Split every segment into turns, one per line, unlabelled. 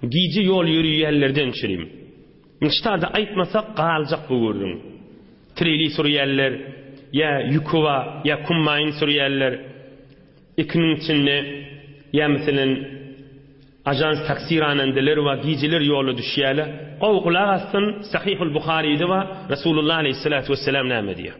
Gije ýol ýöreýänlerden çürim. Nşta-da aýtmasak galjak bu gürrüň. Treli sürýänler, ýa ýükowa, ýa kummaýyn sürýänler, ikiniň içinde, ýa meselem, ajans taksi ranandeler bar, gijeler ýola düşýärler. Gowy gulak assyn, Sahyhul Buharyda bar, Resulullah aleýhissalatu wessalam näme diýýär?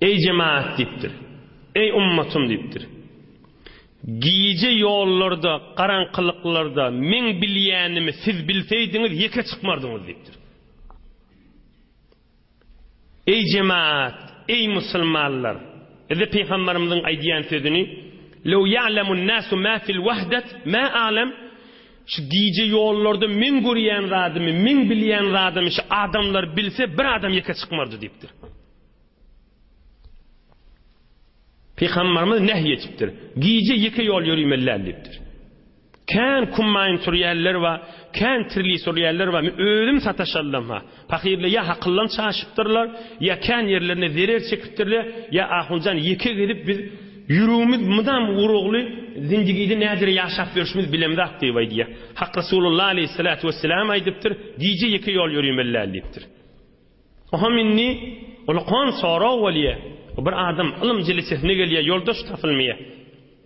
Eý jemagat diýipdir. Eý ummatym diýipdir. Gije ýollarda, garaňkylyklarda meň bilýänimi siz bilseýdiňiz ýeke çykmardyňyz diýipdir. Eý jemagat, eý musulmanlar! Bize pygamberimiziň aýdýan sözüni Lew ya'lemun nasu ma fil wahdet ma a'lem Şu gije ýollarda meň görýän zadymy, meň bilýän zadymy şu adamlar bilse, bir adam ýeke çykmardy diýipdir. Pygamberimiz nähý etipdir. Gije ýeke ýol ýörimelläl diýipdir. Kän kummaýyn sürýänler we kän tirli sürýänler we özüm sataşallam ha. Pahyrlar ýa hakyldan çaşypdyrlar, ýa kän ýerlerine zerer çekipdirler, ýa ahunjan ýeke gezip biz ýüregimiz mydam urugly zindigide näzire ýaşap ýörşümiz bilemzok diýip aýdýar. Hak Resulullah aleýhissalatu wesselam aýdypdyr, Gije ýeke ýol ýörimelläl diýipdir. Oňam indi ulkan sorag bolýar. Bir adam ylym jelesesine gelýär, ýoldaş tapylmaýar.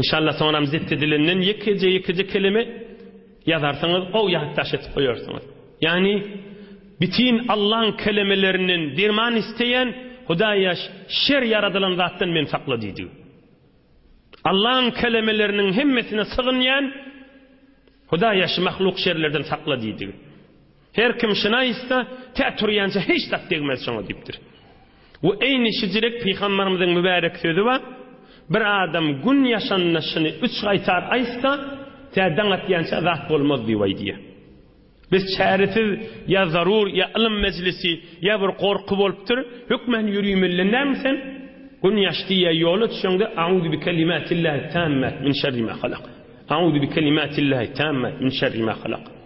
Inşallah soňram zipti dilinden ýekeje ýekeje kelime ýazarsyňyz ow ýatdaş etip goýarsyňyz. Ýagny bitin Allaň kelemelerinden derman isteýän Hudaý ýaş şer ýaradylan zatdan men sakla diýdi. Allaň kelemeleriniň hemmesine sygynýan Hudaý ýaş mahluk şerlerden sakla diýdi. Her kim şina ýytsa, tä turýança hiç zat degmez şoňa diýipdir. We eýni şijilik pygambarymyzyň mübärek sözi bar, Bir adam gün ýaşanda şyny üç gaýtar aýtsa, tä daň atýança zat bolmaz diýip aýdýar. Biz çäresiz ýa zarur, ýa ylym mejlisi, ýa bir gorky bolupdyr, hökman ýüregimizden näme sen, Gün ýaş diýýä ýola düşeňde Auzu bi kelimatillahi tammat min şerri ma halak. Auzu bi kelimatillahi tammat min şerri ma halak.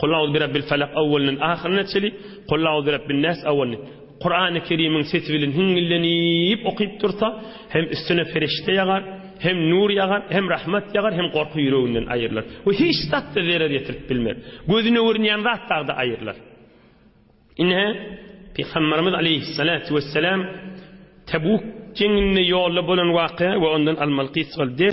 Kul auzu bi rabbil felak awwalynyň ahyryna çeli, Kul auzu bi rabbin nas awwalyny Kurany Kerimiň sesi bilen hiňňillenip okyp dursa, hem üstüne perişde ýagar, hem nur ýagar, hem rahmat ýagar, hem gorky ýüreginden aýrylar. We hiç zat-da zerer ýetirip bilmez. Gözüne görünýän zat dagda aýrylar. Ine, Pygamberimiz aleýhissalatu wessalam Tebuk jeňinde ýolda bolan wakya we ondan almaly gysgal ders